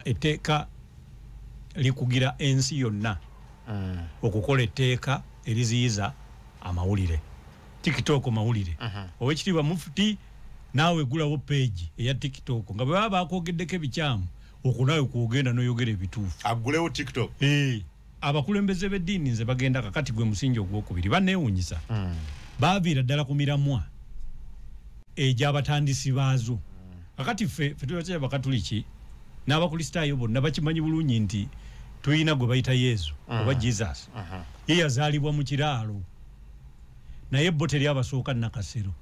etteeka likugira ensi yonna mm. okukola etteeka eriziyiza amawulire tiktok mawulire uh -huh. owekitiibwa mufuti naawe egulawo peegi eya tiktok nga bwe baba baakwogeddeko ebikyamu okunaawe kwogenda noyogera ebituufu agulewo tiktok hey. Eh. abakulembeze b'eddiini nze bagenda kakati gwe musingi ogwokubiri baneewunyisa mm. baaviira ddala ku miramwa egyabatandisi baazo kakati ffe fe tubakyaya bakatuliki n'abakristaayo bonna bakimanyi bulungi nti tulina gwe bayita yesu mm. oba jesus mm -hmm. ye yazaalibwa mu kiraalo naye bo teri abasooka nakasero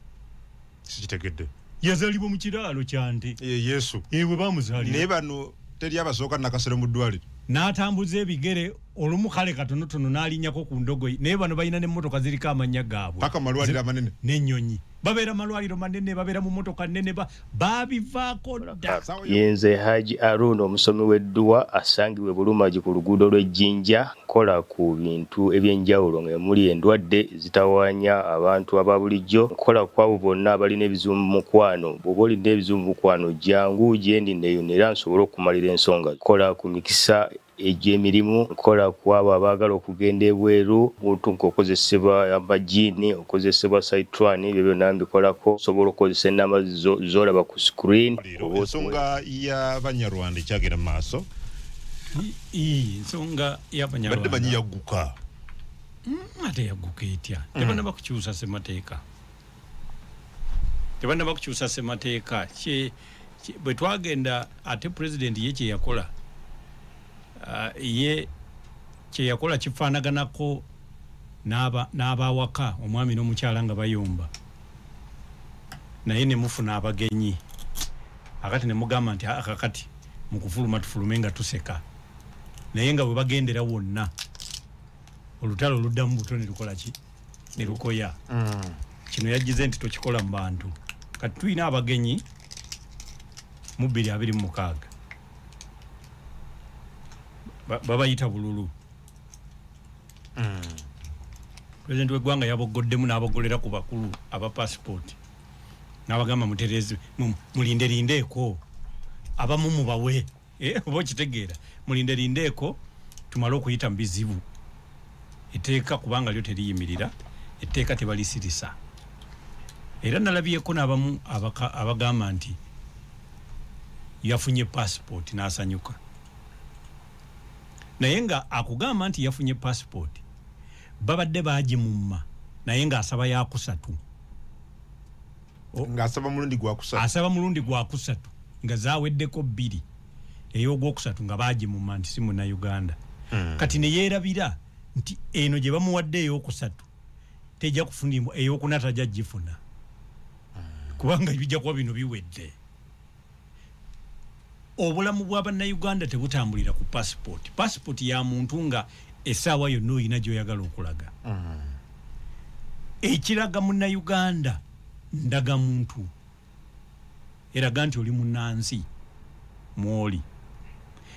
sikitegedde yazalibwa mu kiraalo kyante e, yesu ewe eh, bamuzalira naye bano teri abasooka nakasero mu ddwaliro n'atambuza ebigere olumu kale katonotono n'alinyako ku ndogoyi naye bano balina n'emmotoka ziriko amannya gaabwe paka malwaliro amanene n'ennyonyi babeera malwaliro manene babeera mu mmotoka nene babivaako dda yenze haji aruun omusomi w'edduwa asangibwa ebulumagi ku luguudo lw'ejjinja okukola ku bintu eby'enjawulo nga emuli endwadde ezitawaanya abantu aba bulijjo okukola ku abo bonna abalina ebizibu mu mukwano bw'oba olina ebizibu mu mukwano jangu gyendi neyo era nsobole okukumalira ensonga okukola ku mikisa egy'emirimu nkola ku abo abaagala okugenda ebweru muntu ngaokozesebwa amajiini okozesebwa saitwani ebyo byonna mbikolako osobola okukozesa enamba zolaba ku screen ensonga ya banyarwanda ekyagenda mu maaso ii nsonga yabanyarwanda badde banyi yaguka mm, ate yaguka etya mm. tebana bakukyusa semateeka tebana bakukyusa semateeka kye bwe twagenda ate president ye kye yakola uh, ye kye yakola kifaanaganako n'abawaka omwami n'omukyala nga bayomba naye ne mufuna abagenyi akati ne mugamba nti akakati mu kufuluma tufulume nga tuseka naye nga bwe bagendera wonna olutalo oluddamu buto ne lukola ki ne lukoya mm. kino yajjize nti tokikola mu bantu kati tulina abagenyi mu bbiri abiri mu mukaaga babayita bululu mm. pulezidenti w'eggwanga yaboggoddemu n'abogolera ku bakulu aba pasipooti nabagamba mutereze mulinde lindeeko abamu mubawe eh, oba okitegeera mulinde lindeeko tumale okuyita mu bizibu etteeka kubanga lyo teriyimirira etteeka tebalisirisa era nalabyeko nabamu abagamba nti yafunye passport nasanyuka naye nga akugamba nti yafunye passport babadde baagimumma naye ng'asaba yakusatu ng'asaba mulundi gwakusatu asaba mulundi gwakusatu nga zaweddeko bbiri ey'ogwokusatu nga baagimumma nti si munauganda hmm. kati ne yeerabira nti eno gye bamuwadde ey'okusatu tejja kufunibwa ey'okuna tajja gifuna hmm. kubanga bijja kuba bino biwedde obulamu bwa bannayuganda tebutambulira ku pasipooti pasipooti ya muntu nga essaawa yonna olina gyoyagala okulaga mm. ekiraga munnayuganda ndaga muntu eraga nti oli munnansi mwoli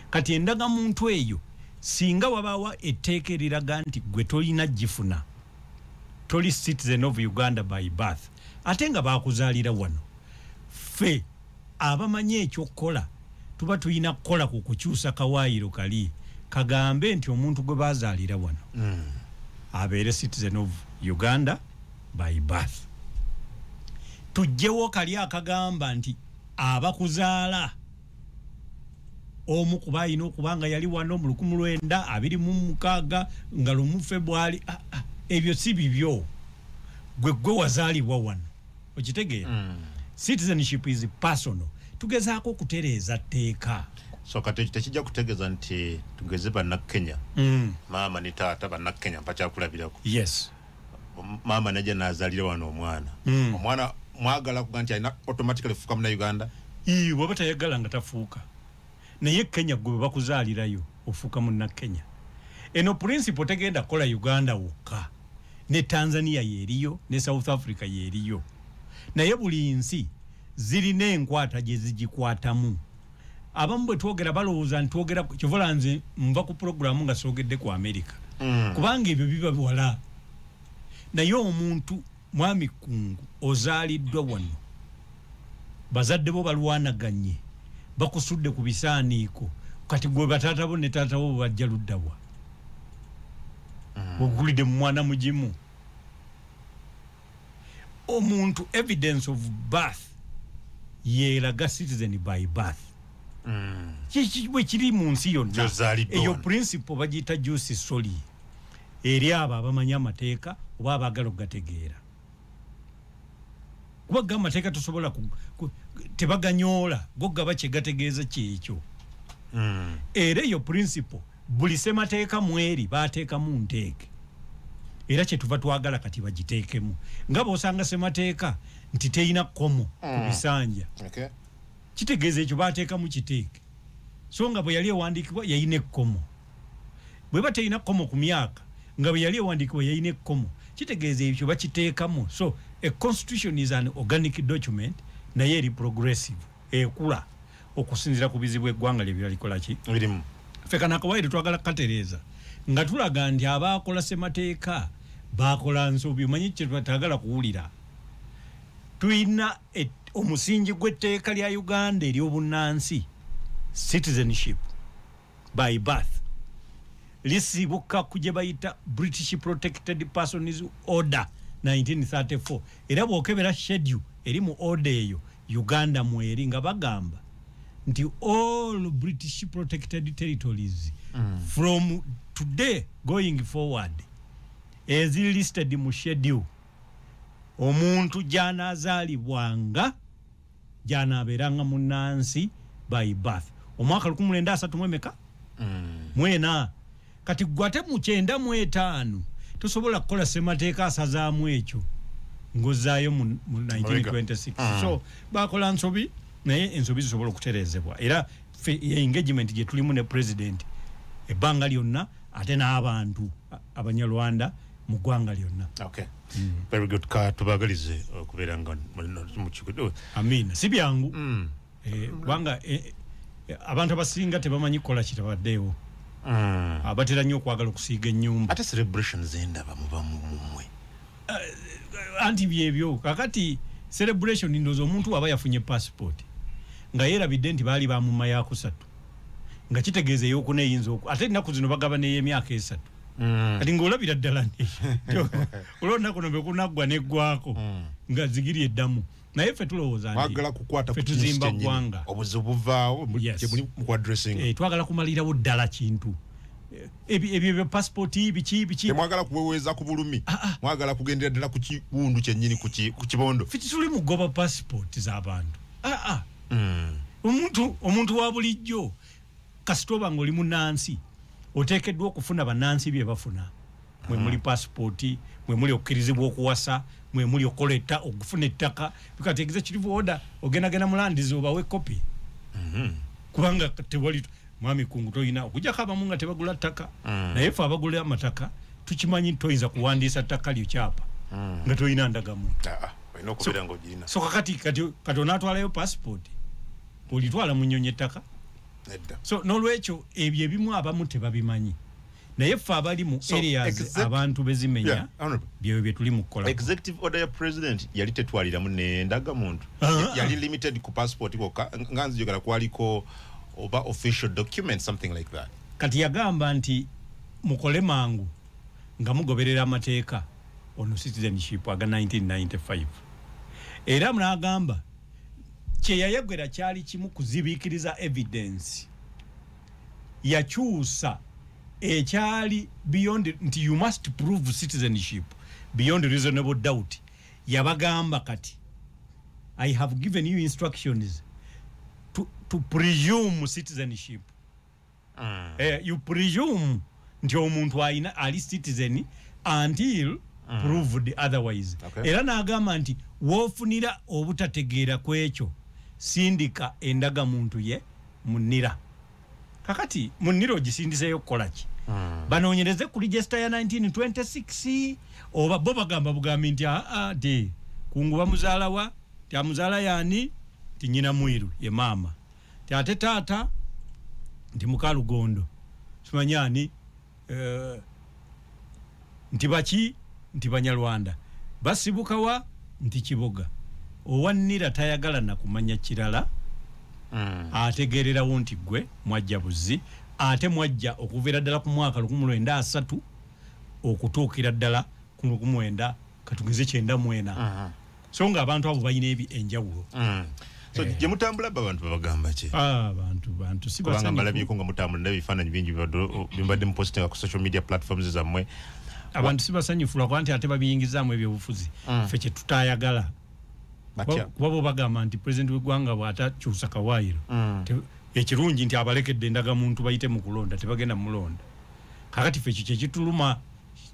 kati endaga muntu eyo singa wabaawa etteeka eriraga nti gwe tolina gifuna toli citizen of uganda by birth ate nga bakuzalira wano fe abamanyi ekyokukola tuba tulina kukola ku kukyusa kawaayiro kali kagambe nti omuntu gwe bazaalira wano mm. abeere citizen of uganda by birth tujjewo kali akagamba nti abakuzaala omu kuba alina okuba nga yali wano mu lukumi lwenda abiri mu mukaaga nga lumu febwali ah, ah, ebyo si bibyo gwe gwe wazaalibwa wano okitegeera mm. citizenship is personal tugezaako okutereeza tteeka so kati ekyo tekijja kutegeeza nti tugeze bannakenya mm. maama ne taata bannakenya mpakyakulabirako yes maama naja nazalira wano omwana mm. omwana mwagala kuga nti alina automatically fuka muna uganda ii waba tayagala nga tafuuka naye kenya gwe bebakuzalirayo ofuuka muna kenya eno principle tegenda kola uganda wokka ne tanzania yeriyo ne south africa yeriyo naye buli nsi zirina enkwata gyezigikwatamu abamu bwe twogera balowooza ntitwogera kyovola nze nva ku pulogulaamu nga soogedde ku amerika mm. kubanga ebyo biba biwala naye omuntu mwami kungu ozaaliddwa wano bazadde bo balwanaganye bakusudde ku bisaaniiko kati gwe bataata bo ne taata bo bajja luddawa mm. ogulidde mu mwana mugimu omuntu evidence of birth yelaga citizen by birth mm. bwe kiri mu nsi yonna eyo principle bagiyita jusi soli eri abo abamanyi amateeka oba abaagala okugategeera kuba ga amateeka tosobola tebaganyoola gogaba kyegategeeza kyekyo mm. era eyo principle buli semateeka mweri bateekamu nteeke era kyetuva twagala kati bagiteekemu nga bosanga semateeka nti teyina komo ku mm. bisanja kitegeeza ekyo bateekamu kiteeke so nga bwe yali ewandiikibwa yayina ekkomo bwe ba teyina kkomo ku myaka nga bwe yali ewandiikibwa yayina ekkomo kitegeeza ekyo bakiteekamu so a constitution is an organic document naye eri progressive ekula okusinzira ku bizibu eggwanga lye byalikola ki birimu ffe kano akawaire twagala kukatereeza nga tulaga nti abaakola ssemateeka baakola nsobi omanyi kyetwatagala kuwulira tulina omusingi gw'etteeka lya uganda ery'obunnansi citizenship by birth lisibuka ku gye bayita british protected persons order 1934 era bwokebera schedule eri mu order eyo uganda mweri nga bagamba nti all british protected territories mm. from today going forward eziri listed mu schedule omuntu gyanazalibwanga gy'anaabeeranga munnansi by birth omwaka lukumi lwenda asatu mu emeka mm. mwena kati gwe ate mu kyenda mu etaano tosobola kukola ssemateeka asazaamu ekyo ng'ozzaayo mu 1926 mm. so bakola nsobi naye ensobi zisobola okutereezebwa era engagement gye tulimu ne president ebbanga lyonna ate n'abantu abanyarwanda mu ggwanga lyonna okay. mm. very good ka tubagalize okubeera nga mukikudu amiina si byangu mm. eh, kubanga mm. eh, eh, abantu abasinga tebamanyi kukola kitabaddeewo mm. abatera nnyo okwagala okusiiga ennyumba ate celebration zendaba muba mumumwe uh, eh, eh, anti byebyo kakati celebration ndoza omuntu aba yafunye passport nga yerabidde nti baali bamumayakusatu nga kitegeeza eyokuna eyinza oku ate ennaku zino bagaba neyemyaka esatu mm. kati ngaolabira ddala olwonaku no bekunaggwa neggwako mm. nga zigiri eddamu naye fe tulowooza ntituzimba ggwanga eh, twagala kumalirawo ddala kintu ebyo pasipoti biki biki temwagala kuweweeza ku bulumi ah, ah. mwagala kugendera ddala ku kiwundu kyennyini ku kibondo fiti tuli mugoba pasipoti z'abantu aa ah, mm. omuntu omuntu wa bulijjo kasita oba ng'oli munansi oteekeddwa okufuna banansi bye bafuna mwe mm. muli pasipooti mwe muli okukirizibwa okuwasa mwe muli okukola okufuna ettaka bikati egize kirivu oda ogendagenda mulandizi obawe kopi mm-hmm. kubanga tewali mwami kungu toyina okujako abamu nga tebagula ttaka mm. naye fe abagula amataka tukimanyi toyinza kuwandiisa ttaka lyo kyapa mm. nga toyina ndagamuntu ah, ah, so kakati kati onatwalayo passport olitwala munyonyi ettaka so nolwekyo ebyo ebimu abamu tebabimanyi naye ffe abali mu areas abantu bezimenya byeyo byetuli mukukola executive order ya president yali tetwaliramu nendaga muntu ah. yali limited ku passport koka nga nzijogera kwaliko oba official document something like that kati yagamba nti mukole mangu nga mugoberera amateeka ono citizenship aga 1995 era munagamba kyeyayegwera kyali kimu kuzibikiriza evidence yakyusa ekyali beyond nti you must prove citizenship beyond reasonable doubt yabagamba kati i have given you instructions to, to presume citizenship mm. uh, you presume nti omuntu alina ali citizen until mm. proved otherwise okay. era n'agamba nti woofunira obutategeera ku ekyo sindika endaga muntu ye munira kakati munira ogisindiseeyo kukola ki mm. banoonyereze ku register ya 1926 oba bo bagamba bugambi nti aa ah, ah, de kunguba muzaalawa ti amuzaala yaani ti nyina mwiru ye maama ti ate taata nti mukalugondo simanyi ani uh, nti baki nti banyarwanda basibukawa nti kiboga owannira tayagala nakumanya kirala mm. ategererawo nti gwe mwajja buzi ate mwajja okuviira ddala ku mwaka lukumulwenda asatu okutuukira ddala ku lwoku mwenda katugeze kyenda mwena mm-hmm. so nga abantu abo balina enjawulo mm. so eh. gye mutambula ba bantu babagamba ki ah, abantu bantu si basanyufu kubanga mbalabyeko nga mutambula nabi bifaananyi bingi bimbadde mupositinga ku social media platforms zammwe abantu si basanyufu lwakuba nti ate babiyingizaamu ebyobufuzi mm. fe kye tutayagala kuba bo bagamba nti pulezidenti w'eggwanga bw'atakyusa kawaayiro mm. ekirungi nti abalekedde endagamuntu bayite mu kulonda tebagenda mulonda kakati fe ekyo kyekituluma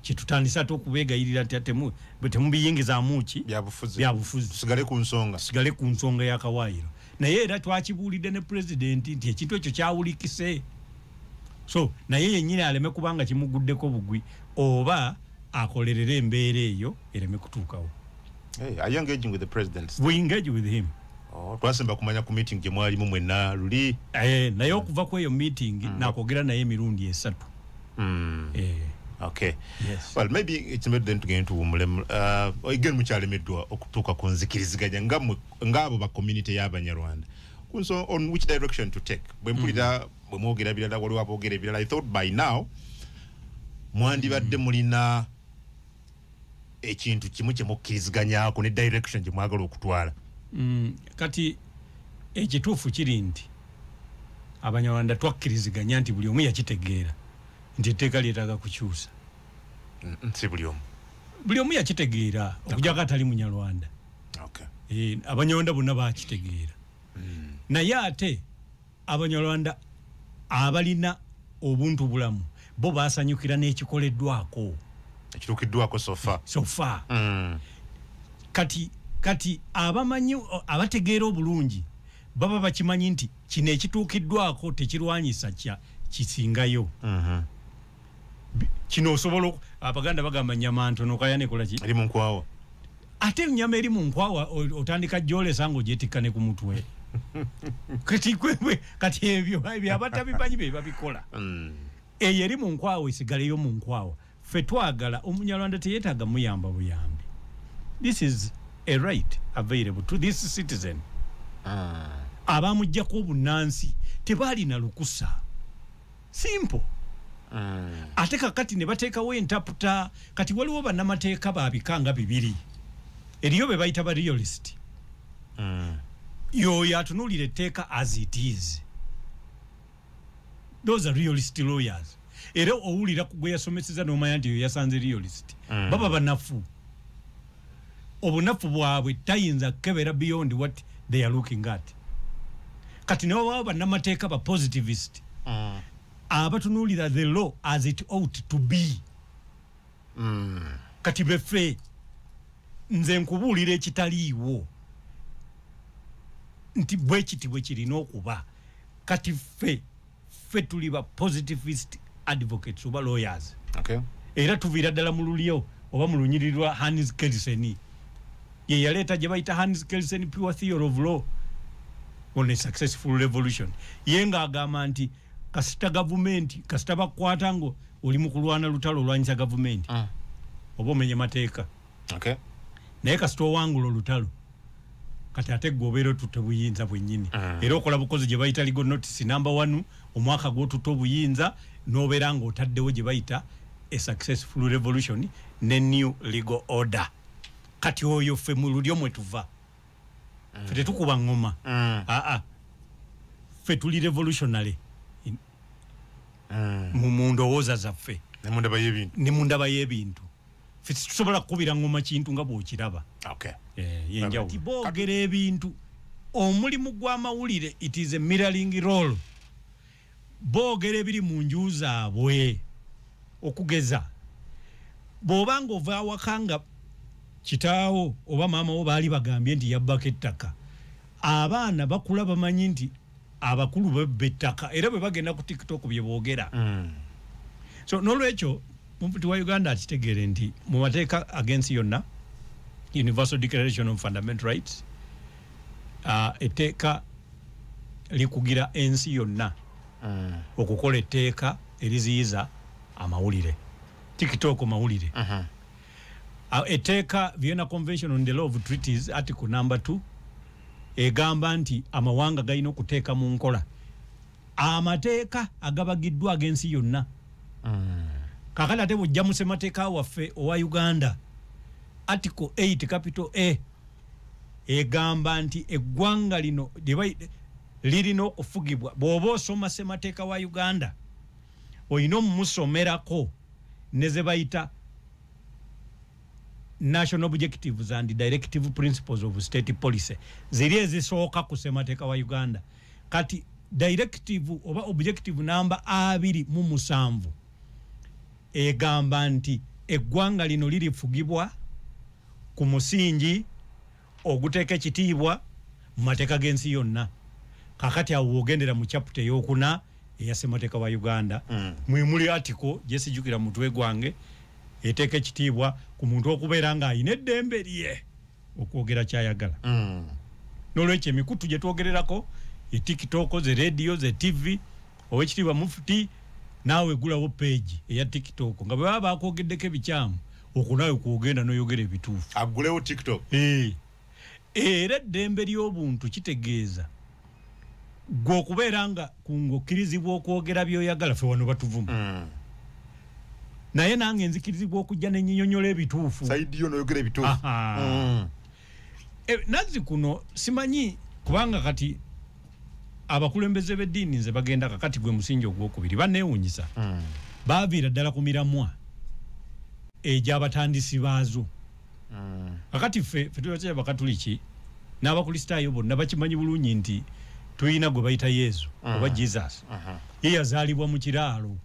kyetutandise ate okubegayirira nti atemu bwe temubiyingizamu ki byabufuzi byabufuzi tusigale ku nsonga tusigale ku nsonga ya kawaayiro naye era twakibuulidde ne pulezidenti nti ekintu ekyo kyawulikise so naye yennyini aleme kubanga kimuguddeko bugwi oba akolerere embeera eyo ereme kutuukawo hey, are you engaging with the president we engage with him Oh, twasemba kumanya ku meeting gye mwalimu mwenna luli eh, naye okuva ku eyo meeting mm. nakwogera naye emirundi esatu mm. eh. okay yes. well maybe it's made then to get into umule uh, again muchale medwa okutuka kunzikiriziganya nga ngabo ba community ya banyarwanda kunso on which direction to take bwe mpulira mm. bwe mwogera bilala wali wabogera bilala i thought by now mwandibadde mm. mulina ekintu kimu kye mukkiriziganyako ne direction gye mwagala okutwala mm, kati ekituufu kiri nti abanyarwanda twakkiriziganya nti buli omu yakitegeera nti etteeka lyetaaga kukyusa si buli omu buli omu yakitegeera okujako atali munyarwanda eh, abanyarwanda bonna bakitegeera mm. naye ate abanyarwanda abalina obuntu bulamu bo basanyukira n'ekikoleddwako ekituukiddwako sofa sofa mm. kati kati abamanyi abategeera obulungi baba bakimanyi nti kino ekituukiddwako tekirwanyisa kya kisingayo mm -hmm. kino osobola abaganda bagamba nyama ntono kaya nekola ki ali munkwawa ate nyama eri munkwawa otandika jole sango jetika ne kumutwe kati kwewe kati ebyo ebyo abata bipanyi beba bikola mm. eye eri munkwawa isigale yo munkwawa fetwagala omunyalwanda teyetaga muyamba buyambi this is a right available to this citizen ah. abamujjako obunansi tebalina lukusa simple mm. ate kakati ne bateekawo entaputa kati waliwo bannamateeka babika nga bibiri eriyo be bayita ba realist mm. yoyo atunuulira etteeka as it is those are realist lawyers era owulira gwe yasomeseza n'omanya nti yo yasanze realist mm. baba banafu obunafu bwabwe tayinza kukebera beyond what they are looking at kati newababa bannamateeka ba positivist mm. abatunuulira the law as it out to be mm. kati befe nze nkubuulira ekitaliiwo nti bwekiti bwekirina okuba kati ffe ffe tuli ba positivist advocates oba lawyers okay. era tuviira ddala mu lulyo oba mu lunyiri lwa hans kelsen ye yaleeta gye bayita hans kelsen pure theory of law on a successful revolution ye ng'agamba nti kasita gavumenti kasita bakwata nga oli mu kulwana lutalo olwanyisa gavumenti ah. oba omenye mateeka okay. naye kasita owangula olutalo kati ate gwe obeera otutte obuyinza bwennyini mm. era okola bukozi gye bayita ligo notisi namba one omwaka gwotutte obuyinza n'obeera ng'otaddewo gye bayita a successful revolution ne new legal order kati oyo ffe mu lulyo mwe tuva mm. fe tetukuba ngoma mm. aa ffe tuli revolutionary mm. mu ndowooza zaffe ne mu ndaba y'ebintu situsobola kukubira ngoma kintu nga bwokiraba eh, yenjawulo boogera ebintu omulimu gw'amawulire it is a mirroring role boogera ebiri mu nju zaabwe okugeza bw'oba nga ova awaka nga kitaawo oba maama wo baali bagambye nti yabbako ettaka abaana bakula bamanyi nti abakulu bebba ettaka era bwe bagenda ku tiktok bye boogera mm. so n'olwekyo mufti wa uganda akitegeere nti mu mateeka agensi yonna universal declaration of fundamental rights uh, etteeka likugira ensi yonna mm. okukola etteeka eriziyiza amawulire tiktok mawulire uh -huh. Ah, etteeka vienna convention on the law of treaties article number 2 egamba nti amawanga galina okuteeka mu nkola amateeka agabagiddwa ag'ensi yonna mm. kakati ate bujja mu ssemateeka waffe owa uganda article 8 capital a egamba nti eggwanga lino lirina okufugibwa bw'oba osoma ssemateeka wa uganda olina omumusomerako ne ze bayita national objectives and directive principles of state policy ziri ezisooka ku ssemateeka wa uganda kati directive oba objective namba abiri mu musanvu egamba nti eggwanga lino lirifugibwa ku musingi oguteeka ekitiibwa mu mateeka g'ensi yonna kakati awo wogendera mu chaputa eyokuna eya ssemateeka wa uganda mm. mwemuli atiko gyesijukira mutwe gwange eteeka ekitiibwa ku muntu okubeera ng'alina eddembe lye okwogera kyayagala mm. nolwekyo emikutu gyetwogererako etiktok ze radio ze tv owekitiibwa mufuti naawe gulawo peegi eya tiktok nga bwe baba bakwogeddeko ebikyamu okwo naawe kwogenda noyogera ebituufu agulewo tiktok eh. era eddembe ly'obuntu kitegeeza gwe okubeera nga kungokkirizibwa okwogera byoyagala fe wano batuvuma mm. naye nange nzikirizibwa okujja nenyinyonyola ebituufu saidi yo noyogera ebituufu mm. e, nazzi kuno simanyi kubanga kati abakulembeze b'eddiini nze bagenda kakati gwe musingi ogwokubiri baneewunyisa mm. baaviira ddala ku miramwa egy'abatandisi baazo mm. kakati ffe fe tubakyaya abakatuliki n'abakristaayo bonna bakimanyi bulungi nti tulina gwe bayita yesu mm. oba jesus uh -huh. ye yazaalibwa mu kiraalo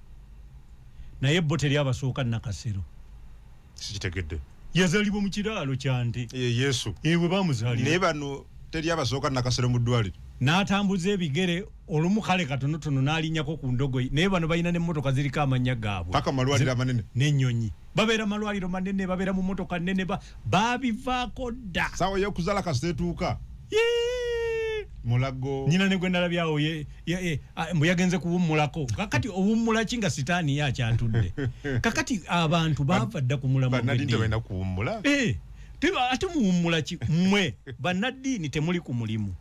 naye bo teri abasooka nakasero sikitegedde yazalibwa mu kiraalo kyante e, yesu ewe eh, bamuzalira naye bano teri abasooka nakasero mu ddwaliro n'atambuza ebigere olumu kale katonotono n'alinyako ku ndogoyi naye bano balina n'emmotoka ziriko amannya gaabwe paka malwaliro amanene n'ennyonyi babeera malwaliro manene babeera mu mmotoka nnene babivaako dda saawa y'okuzaala kasita etuuka mulago nyina ne gwe nalabyawo ya, eh, ah, mbu yagenze kuwummulako kakati owummula ki nga sitaani ye akyatudde kakati abantu baava dda ku mulamwa banadini tebalina kuwummula eh, ate muwummula ki mmwe bannaddiini temuli ku mulimu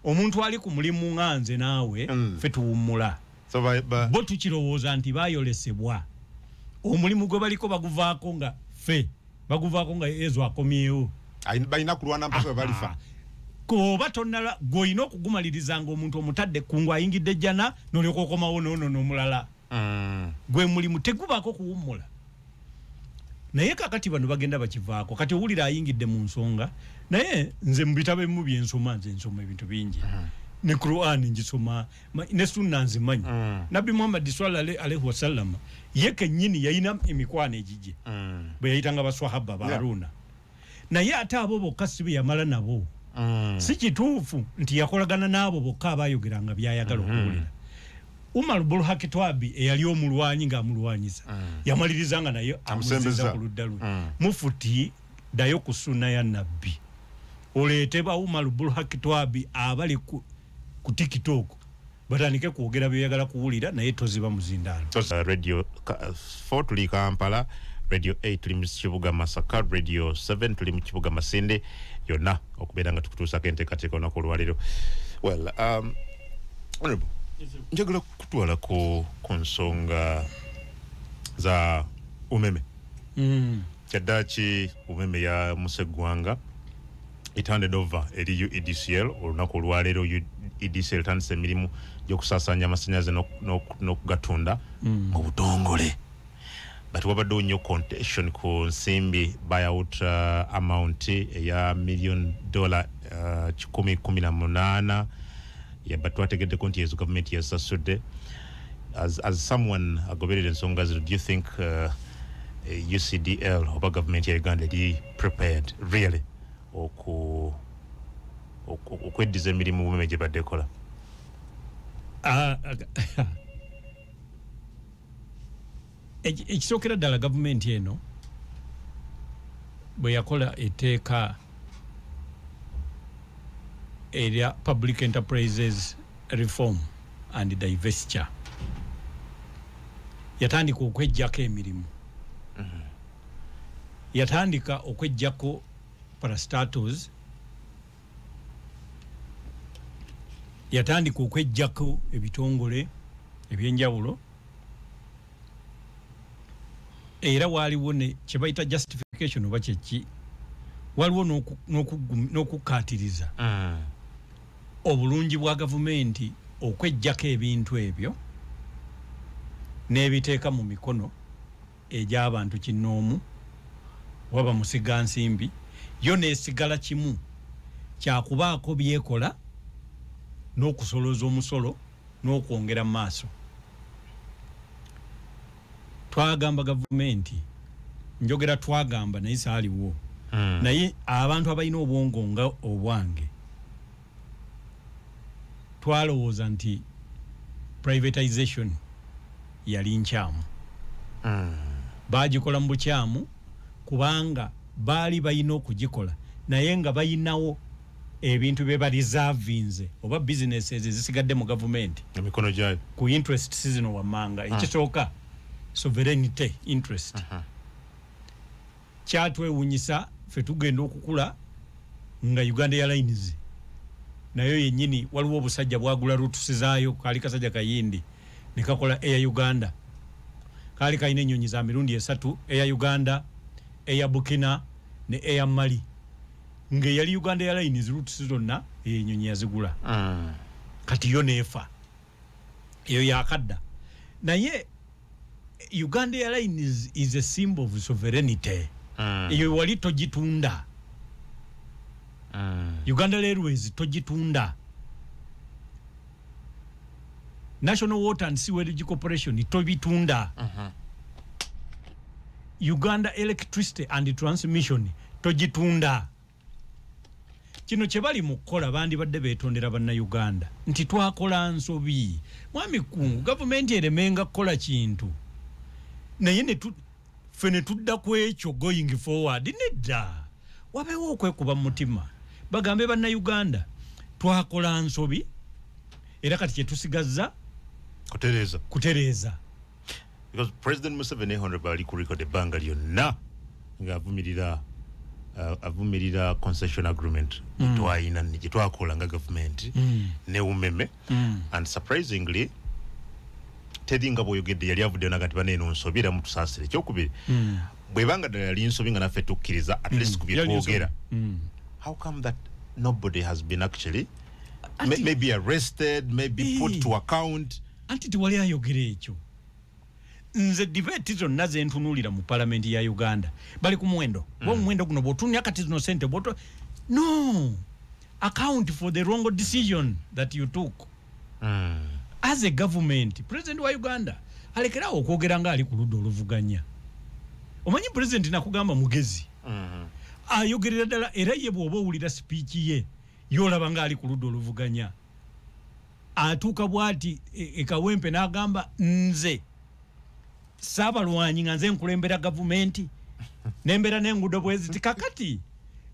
omuntu ali ku mulimu nga nze naawe mm. fe tuwummula so by, by. bo tukirowooza nti bayolesebwa omulimu gwe baliko baguvaako nga fe baguvako nga ezo akomyewo balina kulwana mpaka balifa koba tonala gwoyina okugumaliriza nga omuntu omutadde kungu ayingidde jjana nolyoka okomawo nono nomulala mm. gwe mulimu tegubako kuwummula naye kakati bano bagenda bakivaako kati owulira ayingidde mu nsonga naye nze mubitabo ebimu byensoma nze nsoma ebintu bingi mm. ne quran njisoma ne sunna nzimanyi mm. nabbi muhammadi swalla alaihi wasallama ye kenyini yalina emikwano egigye mm. bwe yayitanga baswahaba ba haruna yeah. naye ate abo bokka si beyamala nabo mm. si kituufu nti yakolagana n'abo bokka abayogeranga byayagala mm -hmm. okuwulira umar bulhaki twabi eyali omulwanyi ngaamulwanyisa mm. yamaliriza nga naye amusembeza ku ludda lwe mm. mufuti dayo ku sunna ya nabbi oleete ba umar bulhaki twabi abali ku ku tiktok batandike kwogera byoyagala kuwulira naye toziba muzindaalo uh, radio 4 uh, tuli kampala radio 8 tuli mu kibuga masaka radio 7 tuli mu kibuga masinde yonna okubeera nga tukutuusako enteekateeka olunaku olwaleero well um, honorable njagala kutwala ku ku nsonga za umeme mm. kyaddaki umeme ya museggwanga etandede ova eri uedcl olunaku olwaleero uedcl etandisa emirimu gyokusasanya amasanyalaze n'okugatunda mm. mu butongole but wabaddewo nnyo contention ku nsimbi buyout uh, amount eya million dollar uh, kikumi kumi na munaana but twategeddeko nti ezo gavumenti yasasudde as, as someone agoberera ensonga zino do you think uh, ucdl oba gavumenti ya uganda eri prepared really oku okweddiza emirimu bumeme gye badde kola ah, ekisookera ddala gavumenti eno bwe yakola etteeka erya public enterprises reform and divestiture yatandika okwejjako emirimu mm -hmm. yatandika okwejjako parastatos yatandika okwejjako ebitongole ebyenjawulo era waaliwo ne kyebayita justification oba kyeki waliwo n'okukkaatiriza mm. obulungi bwa gavumenti okwejjako ebintu ebyo n'ebiteeka mu mikono egy'abantu kinnoomu oba bamusigansimbi yo n'esigala kimu kya kubaako by'ekola n'okusolooza omusolo n'okwongera mu maaso twagamba gavumenti njogera twagamba naye saaliwo hmm. naye abantu abalina obwongo nga obwange twalowooza nti privatization yali nkyamu mm. bagikola mu bukyamu kubanga baali balina okugikola naye nga balinawo ebintu bye barizavinze oba businesses ezisigadde mu gavumenti emikono gyayo ku interest sizino wammanga ah. ekisooka sovereignty interest uh -huh. kyatwewunyisa fe tugenda okukula nga uganda airlines nayo yenyini waliwo obusajja bwagula rutusizayo kali kasajja kayindi nekakola air uganda kali kalina enyonyi za mirundi esatu air uganda air bukina ne air mali nga yali uganda airlines rutusi zonna enyonyi yazigula mm. kati yo nefa eyo yakadda naye uganda airlines is a symbol of sovereignty mm. eyo wali togitunda mm. uganda airways togitunda national water and sewerage corporation tobitunda uh -huh. uganda electricity and transmission togitunda kino kyebali mu kukola bandibadde betondera bannayuganda nti twakola nsobi mwami kungu gavumenti eremenga kukola kintu naye ffe ne tudda ku ekyo going forward nedda wabeewo okwekuba mu mutima bagambe bannayuganda twakola nsobi era kati kyetusigazza kutereeza because president museveni honorable ali ku record ebbanga lyonna nga avumirira uh, avumirira concession agreement mm. twayina gye twakola nga gavumenti mm. ne umeme mm. and surprisingly teri nga bwoyogedde yali avuddeyo naga nti baneeno nsobi era mutusaasire ekyokubiri mm. bwebanga ddala yali nsobi nga naffe tukkiriza at least mm. ku byetwogera mm. how come that nobody has been actually maybe arrested maybe put to account anti tewali ayogera ekyo nze debate zonna zentunulira mu palamenti ya uganda bali ku muwendo mm. omuwendo guno bwotunya kati zino sente bwoto no account for the wrong decision that you took mm. as a government president wa uganda alekerawo okwogera nga ali ku ludda oluvuganya omanyi president nakugamba mugezi mm. ayogerera ddala era ye bwoba owulira sipiiki ye yolaba nga ali ku ludda oluvuganya atuuka bwati ekawempe e nagamba nze saabalwanyi nga nze nkulembera gavumenti nembera nengudo bweziti kakati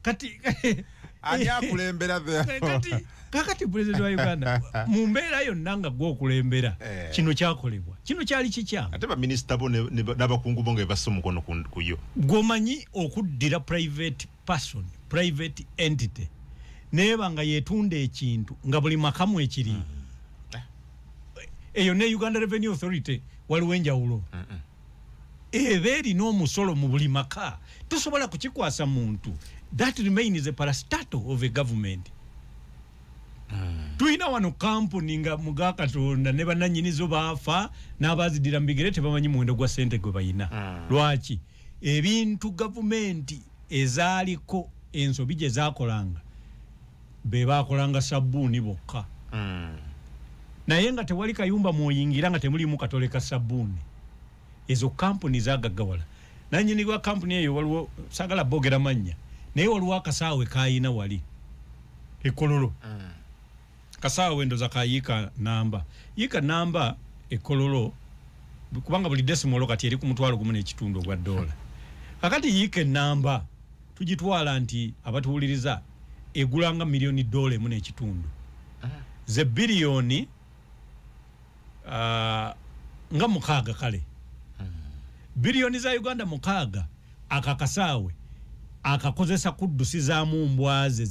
kati ani akulembera kati kakati president wa uganda mu mbeera yonna nga gwe okulembera eh. kino kyakolebwa kino kyali kikyamu ate baminisita bo n'abakungu bo nga ebassa omukono kuyo gwomanyi okuddira private person private entity neba nga yetunda ekintu nga buli makamu ekiri mm -hmm. eyo ne Uganda Revenue Authority waliwo enjawulo mm -mm. eba erina omusolo mu buli maka tosobola kukikwasa muntu that remains a parastato of a government mm. tulina wano kampuni nga muga katonda ne bananyinizo baafa n'abazidira mu bigere tebamanyi muwendo gwa sente gwe balina mm. lwaki ebintu gavumenti ezaaliko ensobi gye zaakolanga be baakolanga sabbuuni bokka hmm. naye nga tewali kayumba mwoyingira nga temulimu katole ka sabbuuni ezo kampuni zagaggawala nanyini wa kampuni eyo waliwo sagala boogera mannya naye waliwo akasaawe kayina wali ekololo hmm. kasawa wendo za kayika namba yika namba ekololo kubanga buli desimolo kati eri ku mutwalo gumu n'ekitundu ogwa dola kakati yika enamba tugitwala nti abatuwuliriza egulanga miliyoni dola emu n'ekitundu ah. ze biliyoni ah, nga mukaaga kale hmm. biliyoni za uganda mukaaga akakasaawe akakozesa kuddusizamu mbwaze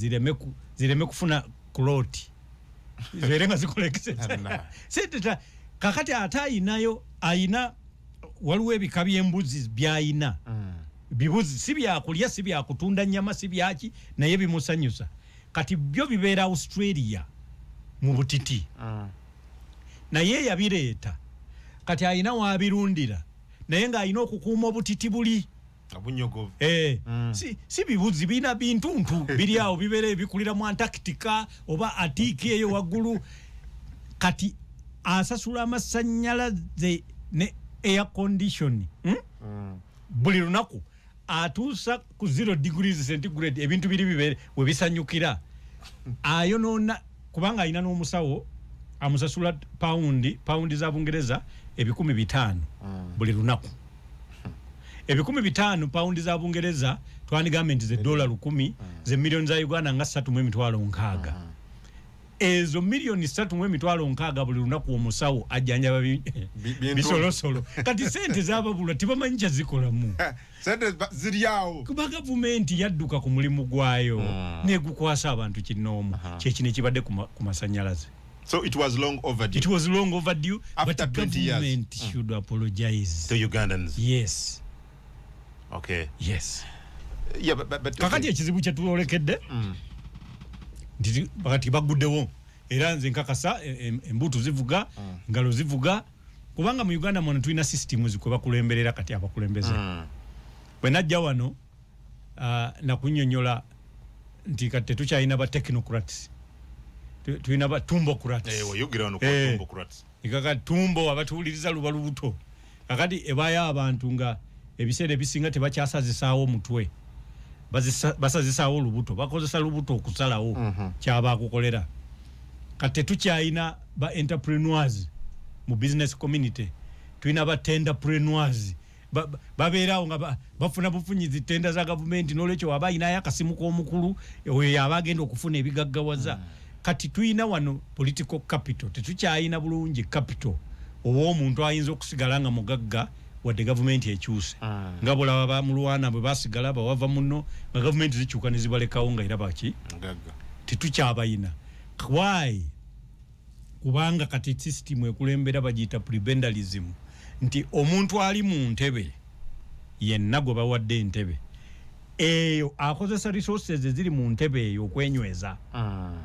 zireme kufuna kuloti zibeere nga zikola ekiseera sente ta kakati ate ayinayo ayina waliwo ebika by'embuzi by'ayina mm. bibuzi si byakulya si byakutunda nyama si byaki naye bimusanyusa kati byo bibeera australia mu butiti mm. naye yabireeta kati ayina wabirundira naye ng'alina okukuuma obutiti buli obunyogovu eh, mm. si, si bibuzi bina bintuntu biri awo bibere bikulira mu antarctica oba atiki eyo waggulu kati asasula amasanyalaze ne air condition hmm? mm. buli lunaku atuusa ku zero degrees centigrade ebintu biri bibere webisanyukira ayonoona kubanga alina n'omusawo amusasula paundi paundi za bungereza ebikumi bitaano mm. buli lunaku ebikumi bitaano pawundi za bungereza twandigambe nti ze dola lukumi mm. ze miliyoni za uganda nga satu mu emitwalo nkaaga mm. ezo miliyoni satu mu emitwalo nkaaga buli lunaku omusawo ajjanjaba bisolosolo kati sente zababulwa tebamanyi kyazikolamu kuba gavumenti yadduka ku mulimu gwayo mm. negukwasa abantu kinoomu kyekino ekibadde ku masanyalaze So it was long overdue. It was long overdue. After but 20 years. government mm. should apologize. To Ugandans. Yes. Okay. Yes. Yeah, but, but, but, kakati ekizibu kyetulolekedde mm. nti bakati baguddewo era nze nkakasa e, e, embuutu zivuga mm. ngalo zivuga kubanga mu uganda mwona tulina system zikwebakulemberera kati abakulembeze mm. bwenajja wano uh, nakunyonyola nti kati tetukyalina ba technocrats tulina ba tumbocrats eh, eh, kaka tumbo abatuwuliriza luba lubuto kakati ebayo abantu nga ebiseera ebisinga tebakyasazisaawo mutwe basazisaawo lubuto bakozesa lubuto okusalawo mm -hmm. kyabakukolera kati tetukyalina ba entrepreneurs mu business community tulina ba tenderpreneurs babeerawo nga bafuna bufunyizi tenda za gavumenti nolwekyo waba ayinayo akasimu k'omukulu oyo yaba agenda okufuna ebigaggawaza hmm. kati tulina wano political capital tetukyalina bulungi capital ow'omuntu ayinza okusigala nga mugagga wadde gavumenti ekyuse ah. nga bulaba bamulwana bwe basigala bawava muno nga gavumenti zikyuka ne zibalekawo nga era baki tetukyabayina why kubanga kati system ekulembera bagiyita prebendalism nti omuntu ali mu ntebe yenna gwe bawadde entebe eyo akozesa resources eziri mu ntebe eyo okwenyweza ah.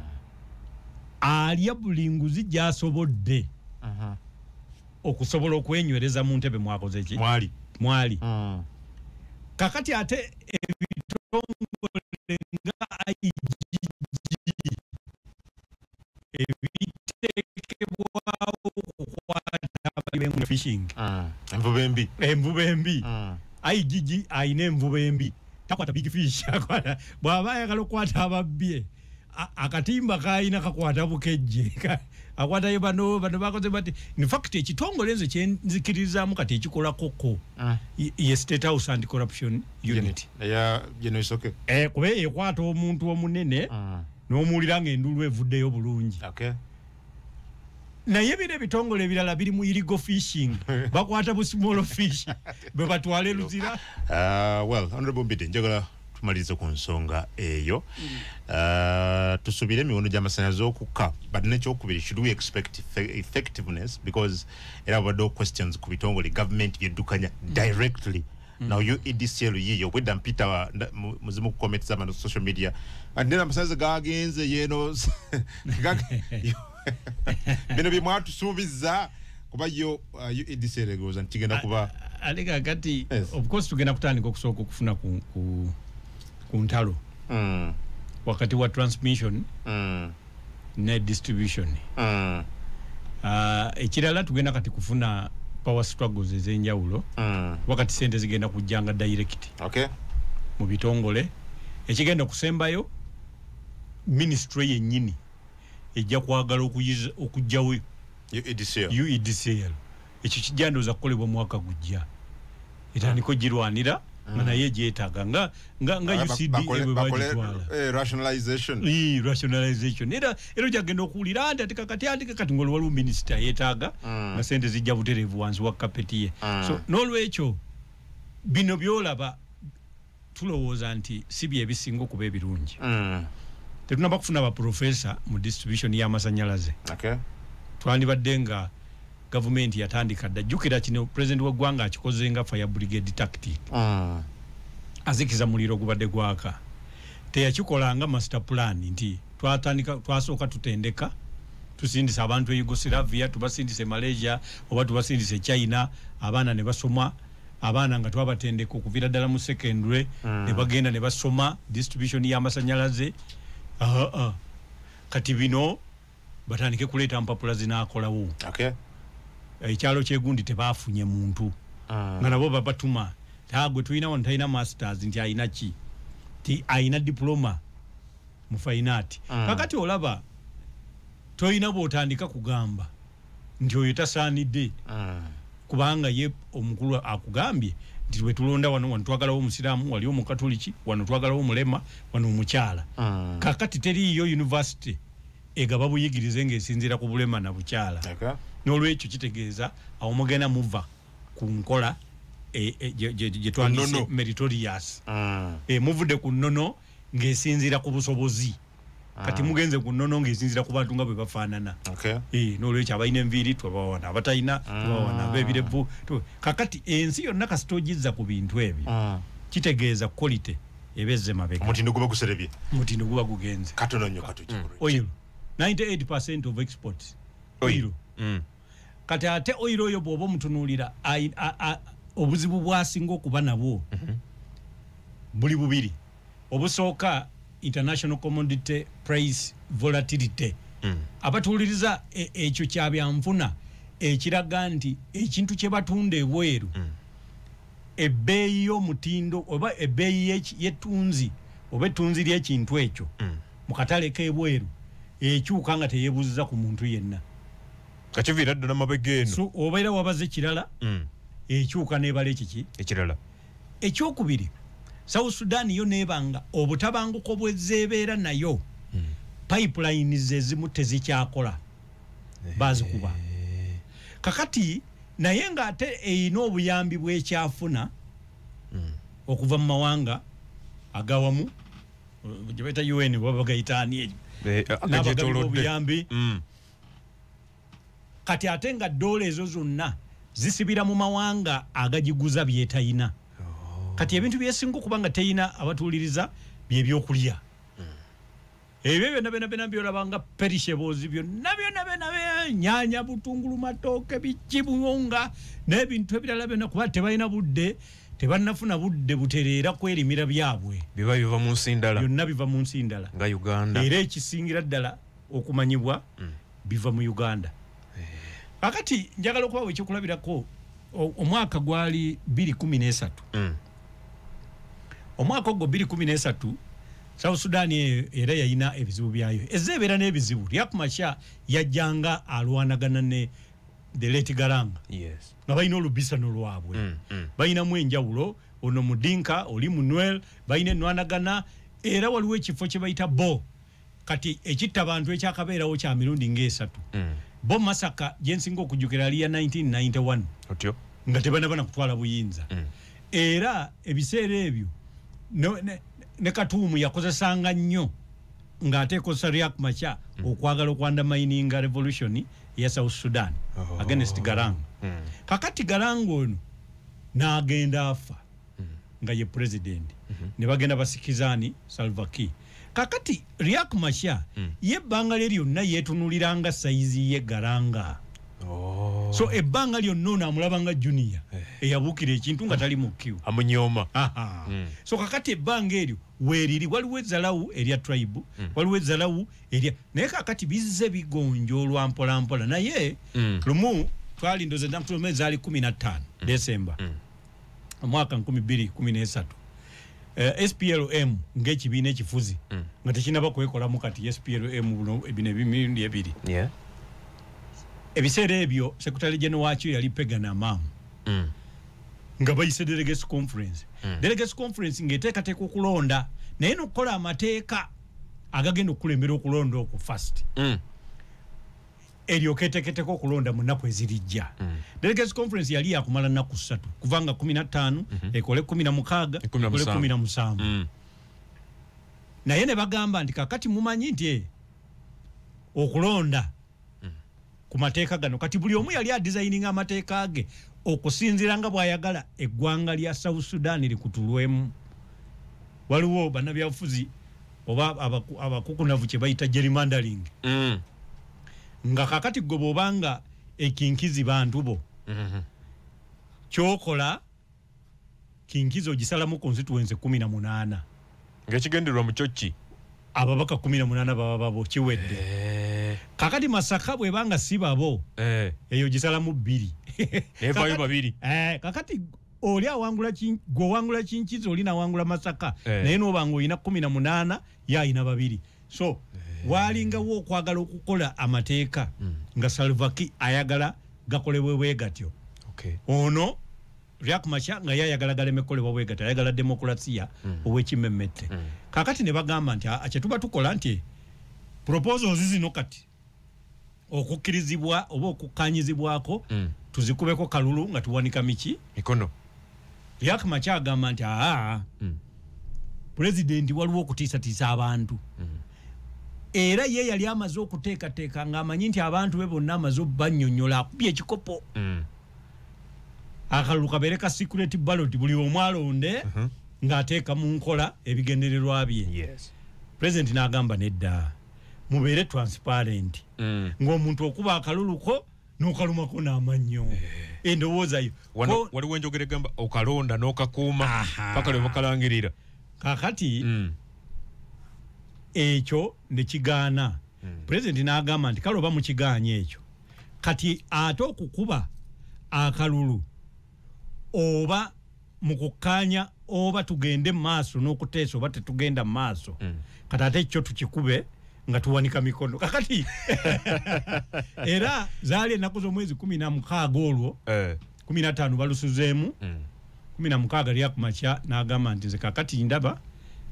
alya buli nguzi gyasobodde okusobola okwenywereza mu ntebe mwakoze ki mwali mwali ah. kakati ate ebitongole nga igg ebiteekebwawo kukwata abayiwengu fishing mm. envuba embi envuba embi mm. igg alina envuba embi takwata big fish akwata bw'aba ayagala okukwata ababbye akatimba kalina kakwata bukejje akwatayo bano bano bakoze bati infact ekitongole nze kyenzikiririzaamu kati ekikolakoko ah. ye state house and corruption unit eh, kuba ekwata omuntu omunene ah. n'omuwulira nga enduulu evuddeyo bulungi okay. naye bino ebitongole ebirala biri mu irigo fishing bakwata bu small fish bwe batwale luzira uh, well honorable mbide njagala tumalirize ku nsonga eyo mm. uh, tusubire emiwono gyamasanyalaze okukka but nekyokubiri should we expect effectiveness because era wabaddewo questions ku bitongole government byeddukanya mm. directly mm. Mm. Now you EDCL yiyo obwedda mpita muzimu comment zama no social media and then amasaze gagenze yeno bino byemwatusuubiza kuba yo uh, EDCL egoza ntigenda kuba alega kati yes. of course tugenda kutandika okusooka okufuna ku, ku, ku ntalo mm. wakati wa transmission mm. ne distribution mm. uh, ekirala tugenda kati kufuna power struggles ezenjawulo mm. wakati sente zigenda kujjanga direct okay. mu bitongole ekigenda okusembayo ministry yennyini ejja kwagala okujjawo uedcl e ekyo kijja ndowooza kukolebwa omwaka gujja etandika ogirwanira nga mm. naye gyetaaga nga nga nga ah, ucd bwebagitwala eh, rationalization ee rationalization era era okyagenda okuwulira anti ati kakati andike kati ngoli waliwo minisita yetaaga mm. nga sente zijja butereevu wansi wa kapeti ye mm. so n'olwekyo bino byolaba tulowooza nti si byebisinga okuba ebirungi mm. tetunaba kufuna baprofesa mu distribution y'amasanyalaze okay. twandibadde nga gavumenti yatandika dda jjukira kino pulezidenti w'eggwanga akikoze nga fire brigade tactic mm. azikiza muliro ogubadde gwaka teyakikola nga master plan nti twatandika twasooka tutendeka tusindisa abantu e yugosilavia tubasindisa e malaysia oba tubasindisa e china abaana ne basoma abaana nga twabatendeka okuvira ddala mu secondary mm. nebagenda nebasoma distribution yamasanyalaze uh ah, -huh. Ah. kati bino batandike kuleeta mpapula zinakolawo okay. ekyalo eh, kyegundi tebafunye muntu mm. nga nabo babatuma tagwe tulina wano talina masters nti alina ki ti alina diploma mu fainaati mm. kakati olaba tolina bwotandika kugamba nti oyo tasaanidde mm. kubanga ye omukulu akugambye nti wetulonda wano wano twagalawo omusiraamu wali omukatoliki wano twagalawo omulema wano omukyala mm. kakati teriiyo univesity egaba buyigirize ngaesinziira ku bulema na bukyala n'olwekyo kitegeeza awo mugenda muva ku nkola e, e, gyetwandise meritorious mm. eh, muvudde ku nnono ngaesinziira ku busobozi kati ah. mugenze ku nnono ng'ezinzira ku bantu nga bwe bafaanana eh, n'olwekyo abalina enviiri tubawana abatalina ah. tubawana abeebirevu kakati ensi yonna kasita ogizza ku bintu ebyo ah. kitegeeza quality ebezze mabega omutindo guba guserebye omutindo guba gugenze katono nnyo katugi mm. oil 98 percent of export oil mm. kati ate oil oyo bw'oba omutunuulira obuzibu bwasinga okuba nabwo mm-hmm. buli bubiri obusooka international commodity price volatility mm. abatuuliriza e, ekyo kya byanfuna ekiraga nti ekintu kye batunda ebweru mm. ebbeeyi y'omutindo oba ebbeeyi y'ettunzi oba ettunzi ly'ekintu ekyo mm. mu katale k'ebweru ekyuka nga teyebuuziza ku muntu yenna kakiviira ddala mabega eno so, obeera wabaze kirala mm. ekyuka nebala ekiki ekirala ekyokubiri south sudan yo nebanga obutabanguko bwezebeera nayo mm. pipeline zezimu tezikyakola eh. bazikuba kakati naye nga ate eyina obuyambi bwekyafuna mm. okuva mu mawanga agawamu gyebaita un babagaitaani ekyo eh, nabagalimu obuyambi mm. kati ate nga doola ezo zonna zisibira mu mawanga agagiguza byetayina oh. kati ebintu byesinga okuba nga teyina abatuuliriza byebyokulya hmm. ebyo byona byona byona byolabanga perishebozi byona byona byona nyanya butungulu matooke bikibuunga n'ebintu ebirala byona kuba tebalina budde tebanafuna budde butereera kwerimira byabwe biba biva mu nsi ndala byonna biva mu nsi ndala nga uganda era ekisingira ddala okumanyibwa mm. biva mu uganda akati eh. njagala okubawo ekyokulabirako omwaka gwali 213 mm. omwaka ogwo 213 south sudan eyo era yalina ebizibu byayo eza ebeera n'ebizibu ryakumasha yajjanga alwanagana ne the late garanga yes. nga balina olubisano lwabwe mm, mm. balinamu enjawulo ono mudinka oli munwel balina enwanagana era waliwo ekifo kye bayita bo kati ekitta bantu ekyakabeerawo kya mirundi ng'esatu mm. bo masaka gye nsinga okujjukira ali ya 1991 otyo nga tebanaba na kutwala buyinza mm. era ebiseera ebyo ne katuumu yakozesanga nnyo ng'ate ekozesa riak macha mm. okwagala okwandamaininga revolution eya south sudan oh. against garang kakati garang ono n'agenda afa mm. nga ye president mm -hmm. ne bagenda basikizani salva key kakati riak masha mm. ye ebbanga lye lyonna yeetunuliranga sayizi ye garanga oh. so ebbanga lyonna ono amulaba nga junior eh. eyabuukira ekintu nga tali mukiw amunyooma mm. so kakati ebbanga eryo weeriri waliwo ezalawu erya tribe mm. waliwo ezalawu erya naye kakati bizze bigonjoolwa mpolampola naye mm. lumu twalindoze nakutuluma ezaali kumi na ttaano mm. desemba mm. omwaka nkumi bbiri kumi n'esatu Uh, eh, SPLM ng'ekibiina ekifuzi mm. nga tekinaba kwekolamu kati SPLM buno bino ebimirundi ebiri yeah. ebiseera ebyo sekretary general wakyo yali pegana mamu mm. nga bayise delegates conference mm. delegates conference ng'eteekateeka okulonda naye nokukola amateeka agagenda okukulembera okulonda okwo fast mm. eryoka eteketeko okulonda mu nnaku ezirijja mm. delegates conference yali yakumala nnaku ssatu kuvanga kumi na ttaano mm -hmm. ekole kumi na mukaaga ekole kumi na musanvu mm. naye ne bagamba nti kakati mumanyi nti eh, okulonda mm. ku mateeka gano kati buli omu yali adizayininga amateeka ge okusinzira nga bwayagala eggwanga lya south sudan likutulwemu waliwo banabyabufuzi oba abakukunavu kyebayita gerrymandering mm. nga kakati gwe bwobanga ekinkizi bantu bo mm-hmm. kyokola kinkizi ogisalamu constituency kumi na munaana ngaekigendererwa mukyokki ababaka kumi na munaana baba babo kiwedde eh. kakati masaka bwebanga si babo eh. eyo gisalamu bbiri evayo babiri eh, kakati oli awangula gwe owangula kinkizi oli nawangula masaka eh. naye noba nga olina kumi na munaana ye alina babiri so eh. waalingawo okwagala okukola amateeka mm. nga salvaki ayagala gakolebwe bwe gatyo okay. ono riak masha nga ye ayagala galemekolebwa bwe gatyo ayagala demokulasiya mm. owekimemmette mm. kakati ne bagamba nti kyetuba tukola nti proposals zino kati okukkirizibwa oba okukkanyizibwako mm. tuzikubeko kalulu nga tuwanika miki mikono yak maky agamba nti aa mm. pulezidenti waliwo okutiisatiisa abantu mm. era ye yali amaze okuteekateeka ng'amanyi nti abantu be bonna amaze obanyonyola akubye ekikopo mm. akalulu kabeere ka security ballot buli omu alonde uh -huh. ng'ateeka mu nkola ebigendererwa bye yes. pulezidenti n'agamba nedda mubeere transparent mm. ng'omuntu okuba akaluluko nokalumako namannyo eh. endowooza yo waliwo enjogera egamba okalonda nokakuuma paka lwe bakalangirira kakati mm. ekyo nekigaana mm. pulezidenti n'agamba nti kale oba mukigaanya ekyo kati ate okukuba akalulu oba mu kukkaanya oba tugende mu maaso n'okuteesa oba tetugenda mu maaso mm. kati ate ekyo tukikube nga tuwanika mikono kakati era zaali ennaku z'omwezi kumi na mukaaga olwo eh. kumi na ttaano balusuzeemu mm. kumi na mukaaga lya ku makya n'agamba nti nze kakati ndaba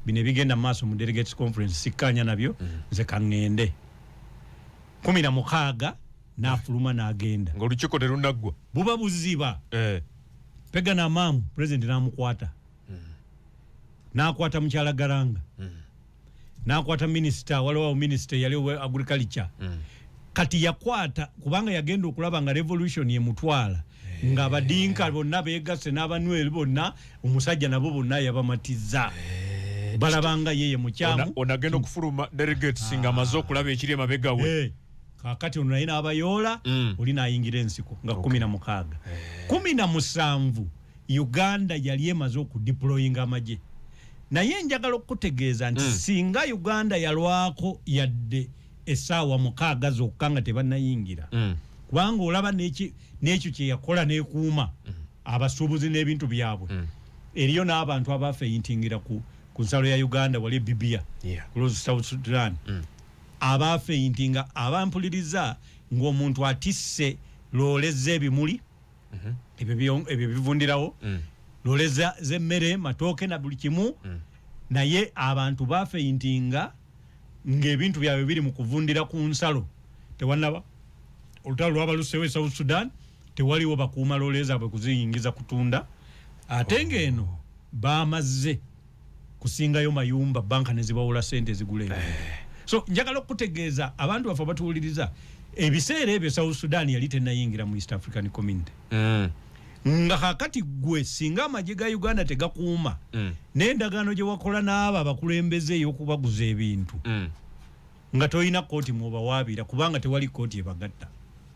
bino ebigenda mu maaso mu delegates conference sikkaanya nabyo mm. nze kaŋŋende kumi na mukaaga n'afuluma n'agenda ng'olukiiko terunaggwa buba buziba eh. pega namaamu pulezidenti n'amukwata hmm. n'akwata mukyala garanga hmm. n'akwata minisita waliwo minisita eyali owa agriculture hmm. kati yakwata kubanga yagenda okulaba nga revolution emutwala eh. nga abadinka bonna beegasse n'abanweri bonna omusajja nabo bonna yabamatiza hey. Eh. balabanga yeye mukyamu onagenda okufuluma delegates nga amaze okulaba ekiri emabega we eh. kakati ono naye n'abayoola mm. oli n'ayingira ensiko nga kumi na mukaaga eh. kumi na musanvu uganda yali emaze okudiployinga amagye naye njagala okukutegeeza nti mm. singa uganda yalwako yadde esaawa mukaaga zokka nga tebanayingira mm. kubanga olaba n'ekyo kyeyakola nekuuma mm. abasuubuzi n'ebintu byabwe mm. eriyo n'abantu abafeintingira ku, ku nsalo ya uganda wali ebibia yeah. kulozi south sudan mm. abaafeyinti nga abampuliriza ng'omuntu atisse loole z'ebimuli mhm. ebyo bivundirawo mm. loole z'emmere matooke na buli kimu mm. naye abantu baafeyinti nga ng'ebintu byabwe biri mu kuvundira ku nsalo tewanaba olutalo lwaba lusewo e south sudan tewaliwo bakuuma loole zaabwe kuziyingiza kutunda ate ng'eno oh. baamazze kusingayo mayumba banka nezibawola sente zigula eh. so njagala okutegeeza abantu baffe abatuwuliriza ebiseera ebyo south sudan yali tenayingira mu east african community mm. nga kakati gwe singa amagye ga uganda tegakuuma mm. n'endagaano gye wakola n'abo abakulembeze ey'okubaguza ebintu mm. nga tolina kooti mwobawaabira kubanga tewali kooti ebagatta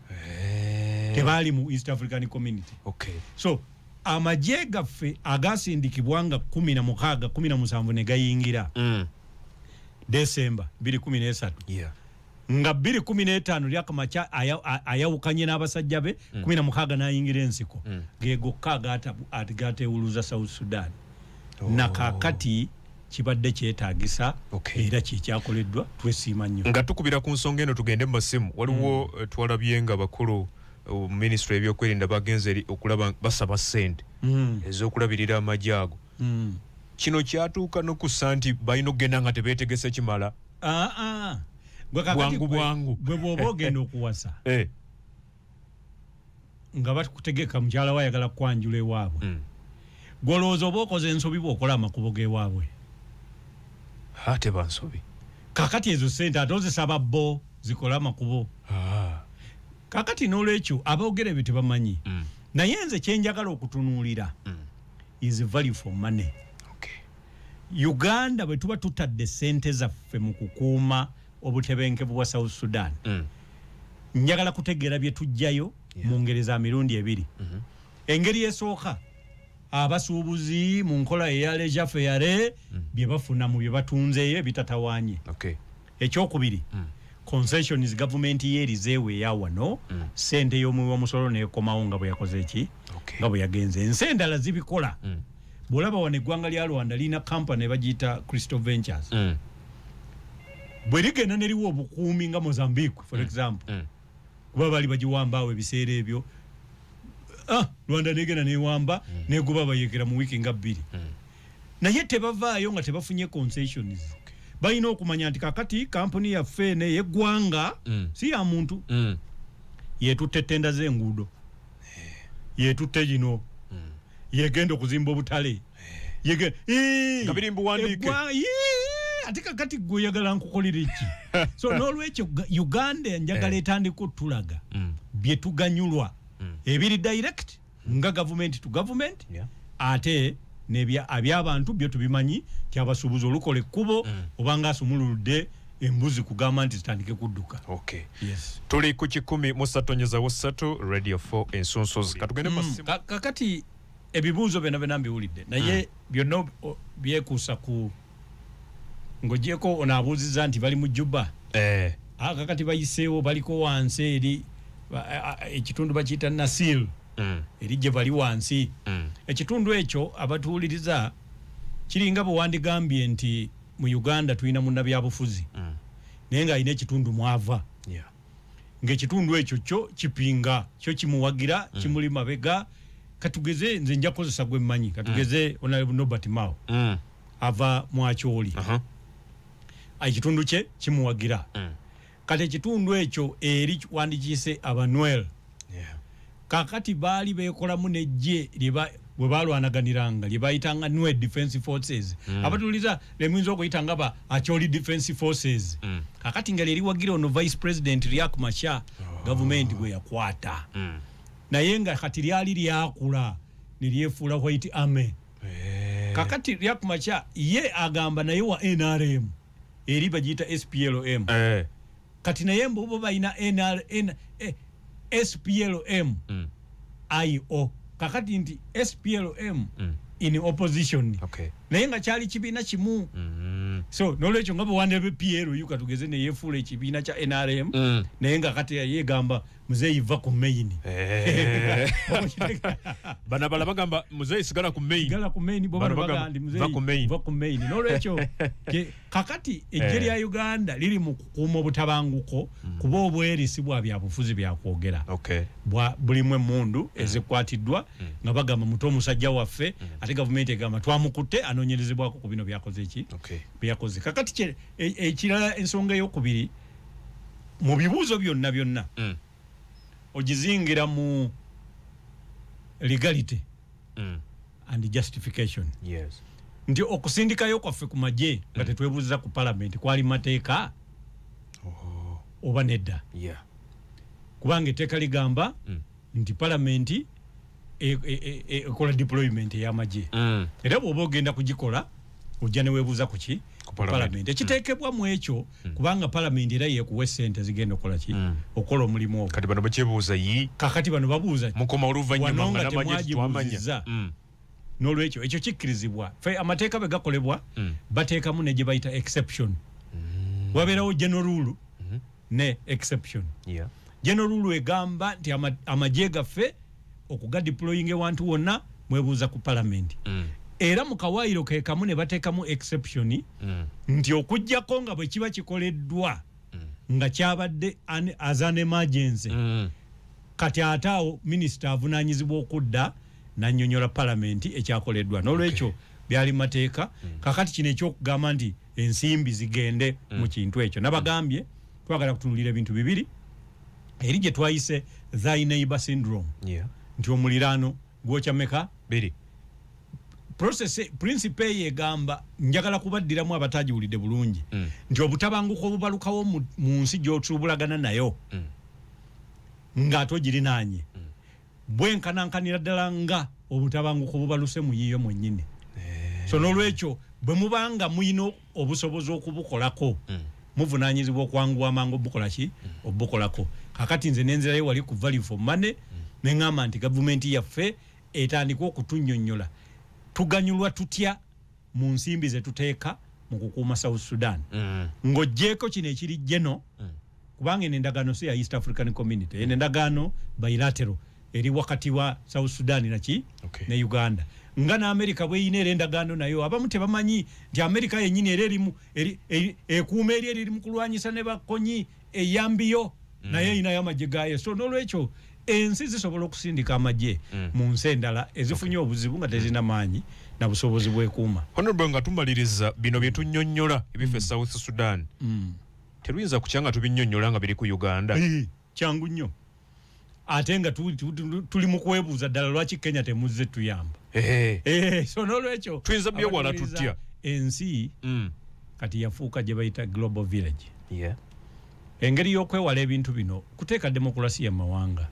hey. Eh. tebaali mu east african community okay. so amagye gaffe agaasindikibwa nga kumi na mukaaga kumi na musanvu ne gayingira mm. desemba biri kumi n'esatu yeah. nga biri kumi n'etaano lyakamakya ayawukanye n'abasajja be mm. kumi na mukaaga n'ayingira ensiko mm. ge gokka agateewuluza south sudan oh. na kakati kibadde kyetagisa okay. era kyekyakoleddwa twesiima nnyo nga tukubira ku nsonga eno tugende mu masimu waliwo mm. Eh, twalabye nga bakulu minisitule ebyokwerinda bagenze eri okulaba basaba sente mm. ezokulabirira amagye ago mm. kino kyatuuka nokussa nti balina okugenda nga tebetegese kimala ah, ah. bwangu bwangu gwe bwoba ogenda okuwasa eh. nga bakutegeka mukyala wa ayagala kukwanjula ewaabwe mm. gwolowooza oba okoze ensobi bwokola amakubo gewaabwe ate bansobi kakati ezo sente ate ozisaba bo zikole amakubo ah. kakati n'olwekyo aboogera ebyo tebamanyi mm. naye nze kyenjagala okutunuulira mm. is value for money uganda bwe tuba tutadde sente zaffe mu kukuuma obutebenkevu bwa south sudan mm. njagala kutegeera bye tujjayo mu ngeri za mirundi ebiri mm-hmm. engeri esooka abasuubuzi mu nkola eya leja feyare mm. bye bafuna mu bye batunzeeyo ebitatawanye ekyokubiri mm. concessions gavumenti ye erizeewo eya wano mm. sente mm. y'omuwi w'omusolo nekomawo nga bwe yakoze eki okay. nga bwe yagenze ensi endala zibikola mm. bw'olaba wano eggwanga lya rwanda lirina kampani ebagiyita crystal ventures mm. bwe ligenda neriwo obukuumi nga mozambique for mm. example mm. kuba bali bagiwambaawo ebiseera ebyo ah, rwanda negenda newamba mm. neguba bayekera mu wiiki nga bbiri mm. naye tebavaayo nga tebafunye concessions balina okumanya nti kakati kampuni yaffe eno eyeggwanga mm. si ya muntu mm. yetutte tenda z'enguudo eh. yetutte gino mm. yegenda okuzimba obutale eh. ate kakati gwe oyagala nkukolera eki so n'olwekyo uganda njagala eh. etandika otulaga mm. bye tuganyulwa mm. ebiri direct nga gavumenti tu gavumenti yeah. ate abyabantu byo tubimanyi tyabasuubuzi olukola ekkubo mm. obanga asumululudde embuzi kugamba nti zitandike kudduka okay. yes. tuli ku kikumi musatonyezawo satu radio 4 ensunsozi katugende mm. ka, kakati ebibuuzo byona byona mbiwulidde naye mm. byonna byekuusa ku ng'ogyeko ono abuuzizza nti bali mu juba eh. aka kati bayiseewo baliko wansi eri ekitundu bakiyita nasil mm. eri gye bali wansi mm. ekitundu ekyo abatuwuliriza kiringa bwe wandigambye nti mu uganda tulina munnabyabufuzi mm. naye ng'alina ekitundu mwava ng'ekitundu ekyo kyo kipinga kyo kimuwagira kimuli mabega katugeze nze njakozesa gwemmanyi katugeze mm. onalebunobert mao mm. ava mu akyoli ekitundu kye kimuwagira mm. kati ekitundu ekyo eri wandikiyise abanwel kakati baali bekolamu nejje bwe balwanaganiranga lye bayitanga nwe defense forces mm. abatuliza lemuyinza okuyita nga ba akyoli defense forces mm. kakati nga lyeriwagira ono vice president riak masha oh. gavumenti gwe yakwata mm. naye nga kati lyali lyakula nelyefuula white army eh. kakati riak macha ye agamba naye wa nrm eri bagiyita splm eh. kati naye mbubo balina nrn eh, splm mm. io kakati nti splm mm. in opposition okay. naye nga kyali kibiina kimu mm -hmm. so nolwekyo nga bwewandebe plu katugeze neyefuula ekibiina kya nrm mm. naye nga kati yegamba muzeeyi va ku main eh. bana bala bagamba muzeeyi sigala ku main sigala ku main boba bagamba ndi muzeeyi va ku main va ku main no lecho ke kakati ejeri ya eh. Uganda lili mu kukumo butabanguko mm. kuba obweri sibwa bya bufuzi bya kwogera okay bwa bulimwe mundu mm. ezikwatidwa mm. nga bagamba muto musajja waffe mm. ate government egamba twamukute anonyerezebwa ku bino byakoze ki okay byakoze kakati ekira e, ensonga yo kubiri mu bibuuzo byonna byonna mm. ogizingira mu legality mm. and justification yes. nti okusindikayo kwaffe ku magye mm. nga tetwebuuziza ku palamenti kwali mateeka oh. oba nedda yeah. kubanga etteeka ligamba mm. nti palamenti e, e, e, ekola deployment eyamagye mm. era bwoba ogenda kugikola ojja newebuuza kuki palamenti ekiteekebwa mu ekyo mm. kubanga palamenti era yekuwa esente zigenda okola ki mm. okola omulimu ogwo kakati bano babuuza yi kakati bano babuuza mukoma oluvannyuma nga namagye tetwamanya nolwekyo ekyo kikkirizibwa fe amateeka bwe gakolebwa mm. bateekamu ne gye bayita exception mm. wabeerawo general rule mm -hmm. ne exception yeah. general rule egamba nti amagye gaffe okugadeploying ewantu wonna mwebuuza ku palamenti mm. era mu kawaayiro ke kamu ne bateekamu exception mm. nti okugyako nga bwe kiba kikoleddwa mm. nga kyabadde as an emergency mm. kati ate awo minisita avunaanyizibwa okudda nanyonyola palamenti ekyakoleddwa nolwekyo okay. byali mateeka mm. kakati kino ekyokugamba nti ensimbi zigende mm. mu kintu ekyo nabagambye twagala kutunulira ebintu bibiri eri gye twayise thy neighbor syndrome yeah. nti omuliraano gwokya meka biri process principe ye gamba njagala kubaddiramu abatajiwulide bulungi mm. nti obutabanguko obubalukawo mu nsi gyotubulagana nayo mm. nga ato girinanye mm. bwenkanankanira ddala nga obutabanguko bubaluse muyiyo mwenyini eh. so nolwekyo bwemubanga muyina obusobozi okubukolako hmm. muvunanyizibwa okwanguwa amangu obukolaki hmm. obukolako kakati nze nenzirayo wali ku value for money hmm. neŋamba nti gavumenti yaffe etandika okutunyonyola tuganyulwa tutya mu nsimbi ze tuteeka mu kukuuma south sudan mm. ng'oggyeeko kino ekiri geno mm. kubanga eno endagaano si ya east african community eno endagaano bilatero eri wakati wa south sudan naki okay. ne uganda nga naamerika bweyina era endagaano nayo abamu tebamanyi nti amerika yenyini era erimu ekuuma eri eriri mu kulwanyisa ne bakonyi eyambiyo mm. naye erinayo amagye gayo so nolwekyo ensi zisobola okusindika amagye mm. mu nsi endala ezifunye okay. obuzibu nga tezirina maanyi na busobozi bwekuuma honorable nga tumaliriza bino byetunyonyola ebifa e mm. south sudan mm. teruyinza kukya nga tubinyonyola nga biri ku uganda kyangu nnyo ate nga tuli mu kwebuuza ddala lwaki kenya temuzze tuyamba eh, so nolwekyo tuyinza byewala tutya ensi mm. kati yafuuka gye bayita global village engeri y'okwewala ebintu bino kuteeka demokulasiya mu mawanga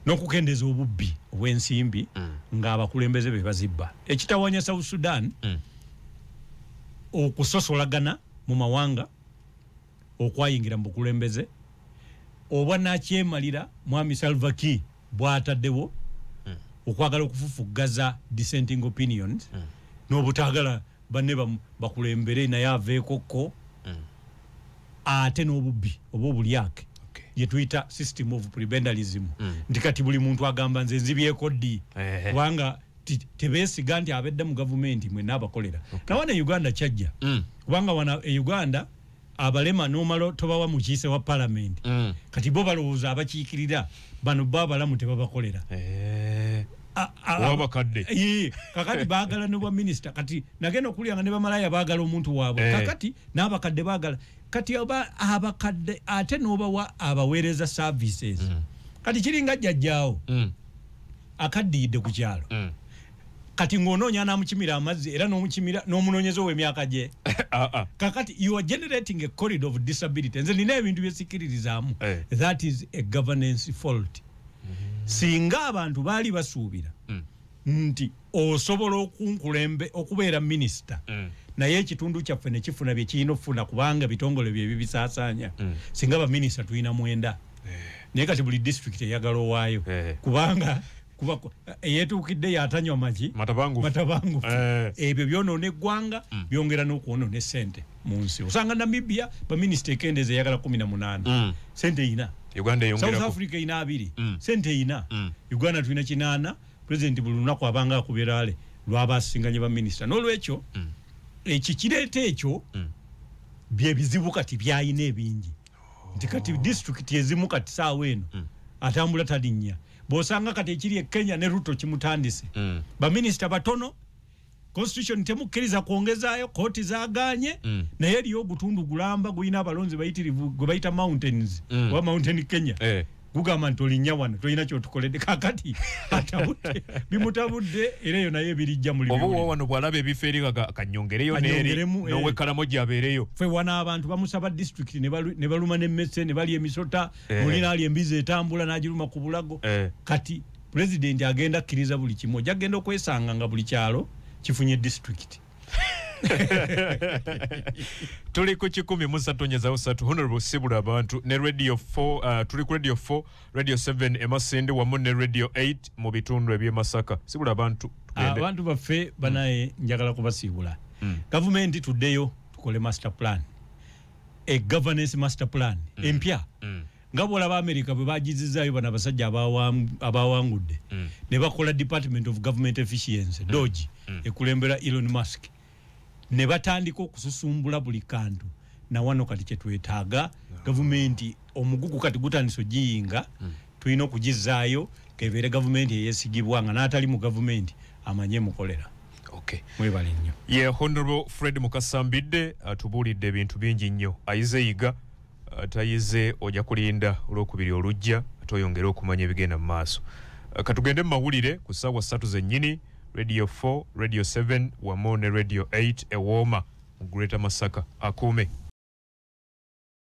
n'okukendeeza obubbi obw'ensimbi mm. ng'abakulembeze be bazibba ekitawanya south sudan mm. okusosolagana mu mawanga okwayingira mu bukulembeze obwa nakyemalira mwami salvaki bwataddewo hmm. okwagala okufufuggaza dissenting opinions hmm. n'obutagala banne bakulembere naye aveekokko hmm. ate n'obubbi oba obulyake yetuyita system of prebendalism nti kati buli muntu agamba nze nzibyeko ddi kubanga tebesiga nti abedde mu gavumenti mwena abakolera okay. nawa ne uganda kyajja mm. kubanga wana e uganda abalema nomalo tobawa mukiise wa palamenti mm. kati bo balowooza abakiikirira bano bo abalamu tebabakolera eh. wabakadde kakati bagala nobwa minisita kati nagenda okulya nga ne bamalaya bagala omuntu waabwe eh. kakati n'abakadde bagala kati oba abakadde ate nobawa abaweereza services mm. kati kiringa jjajjaawo mm. akaddiyidde ku kyalo mm. kati ng'onoonya n'amukimira amazzi era n'omukimira n'omunoonyeza ow'emyaka gye ah, ah. kakati you are generating a corridor of disability nze nina ebintu byesikiririzaamu eh. that is a governance fault mm-hmm. singa abantu baali basuubira mm. nti osobola okunkulembe okubeera minisita mm. naye ekitundu kyaffe nekifuna byekirina okufuna kubanga bitongole byebibisaasaanya mm. singa baminisita tulina mwenda naye kati buli district eyagala owaayo eh. kubanga kuba eyetuukidde yatanywa magi matabangufu eh. ebyo byonoona eggwanga mm. byongera n'okwonoona esente mu nsi osanga namibia baminisita ekendeeza eyagala kumi na munaana mm. sente eyina south africa eyina abiri mm. sente eyina uganda tulina kinaana pulezidenti buli lunaku abanga akuberaale lwaba asinganye baminisita n'olwekyo ekikireeta ekyo byebizibu kati byayina ebingi nti kati disitulikiti ezimu kati saawa eno mm. atambula talinnya bw'osanga kati ekiri e kenya ne ruto kimutandise mm. baminisita batono constitution temukkiriza kwongezaayo kooti zaganye mm. naye eriyo ogutundu gulamba gulina abalonzi bayitirivu gwe bayita mountains mm. oba mountain kenya eh. gugamba nti olinya wano tolina kyotukoledde kakati atabudde bimutabudde era eyo naye ebirijja mulimuoba wano bwalaba ebifo eri kanyongereyo neri nowekalamu eh. gyabeereyo fe wana abantu bamusaba disitulikiti ne baluma nemmese ne balya emisota eh. muli naali embizi etambula n'agiruma ku bulago eh. kati pulezidenti agenda akkiriza buli kimu ojja kugenda okwesanga nga buli kyalo kifunye disitulikiti tuli ku kikumi musatonyezawo satu honorable sibula abantu ne radio 4 uh, tuli ku radio 4 radio 7 emasinde wamu ne radio 8 mu bitundu ebyemasaka sibula abantu abantu baffe banaye mm. njagala kubasiibula mm. gavumenti tuddeyo tukole master plan e governance master plan mm. empya mm. nga bwolaba america bwe bagizizaayo bano abasajja abawangudde mm. ne bakola department of government efficiency mm. dogi mm. ekulembera elon musk ne batandika okususumbula buli kantu nawano kati kyetwetaaga ah. gavumenti omugugu kati gutandisa ogiyinga mm. tulina okugizaayo kebeere gavumenti eyesigibwa nga n'atali mu gavumenti amanye mukolera okay. mwebale nnyo ye yeah, honorable fred mukasambidde atubuulidde ebintu bingi nnyo ayize yiga atayize oja kulinda olwokubiri olujja ate oyongere okumanya ebigenda mu maaso eh, katugende mu mawulire ku ssaawa ssatu zennyini radio 4 radio 7 wamu ne radio 8 ewooma mu greater masaka akuume